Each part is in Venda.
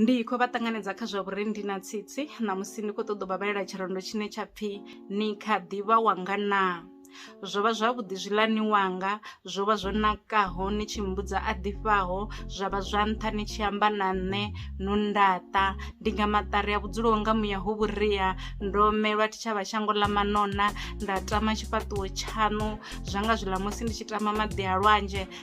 Ndi khou vha ṱanganedza kha zwa vhurendi na tsitsi ṋamusi ndi khou ṱoḓa u vha vhalela tshirendo tshine tsha pfhi ni kha ḓivha wanga na zwo vha zwavhuḓi zwiḽani wanga zwo vha zwo nakaho ni tshi mbudza a ḓifhaho zwa vha zwa nṱha ni tshi amba na nṋe no ndaṱa ndi nga maṱari a vhudzulo nga muya ho vhuria ndo melwa tshitshavha shango ḽa manona nda tama tshifhaṱuwo tshaṋu zwa nga zwiḽa musi ndi tshi tama maḓi a lwanzhe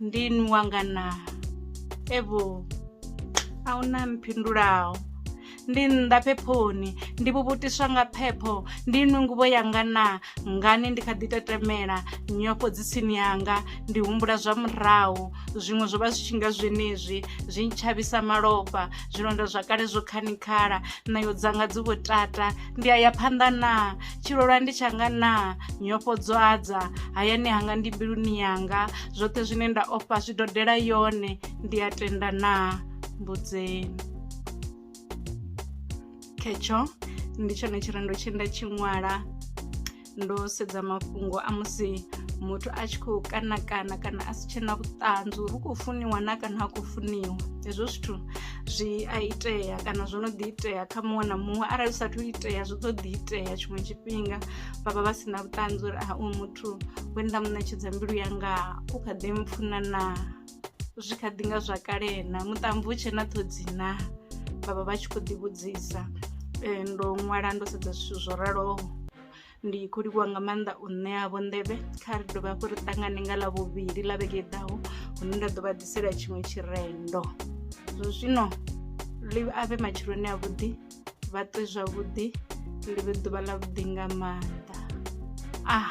ndi nwa nga na evho a hu na mphindulaho ndi nnḓa phephoni ndi vhuvhutiswa nga phepho ndi nwe nguvho yanga na ngani ndi kha ḓi tetemela nyofho dzi tsini yanga ndi humbula zwa murahu zwiṅwe zwo vha zwi tshi nga zwenezwi zwi ntshavhisa malofha zwilonda zwa kale zwo khanikhala ṋayo dzanga dzi vho tata ndi a ya phanḓa na tshilolwa ndi tshanga naa nyofho dzo adza hayani hanga ndi mbiluni yanga zwoṱhe zwine nda ofha zwi dodela yone ndi a tenda naa mbudzeni khetsho ndi tshone tshirendo tshe nda tshi ṅwala ndo sedza mafhungo a musi muthu a tshi khou kana kana kana a si tshena vhuṱanzi uri u khou funiwa na kana ha khou funiwa hezwo zwithu zwi a itea kana zwo no ḓi itea kha muṅwe na muṅwe arali zwi sathu itea zwi ḓo ḓi itea tshiṅwe tshifhinga vha vha vha si na vhuṱanzi uri a uyu muthu we nda mu ṋetshedza mbilu yanga u kha ḓi mpfuna na zwi kha ḓi nga zwa kale na muṱambi u tshe na ṱhodzi na vha vha vha tshi khou ḓivhudzisa um ndo ṅwala ndo sedza zwithu zwo raloho Ndi khou livhuwa nga maanḓa u ṋeavho nḓevhe kha ri dovhe hafhu ri ṱangane nga ḽa vhuvhili ḽa vhege i ḓaho hune nda ḓo vha ḓisela tshiṅwe tshirendo zwo zwino ḽi avhe matshiloni a vhuḓi vha ṱwe zwavhuḓi ḽi vhe ḓuvha ḽa vhuḓi nga maanḓa ah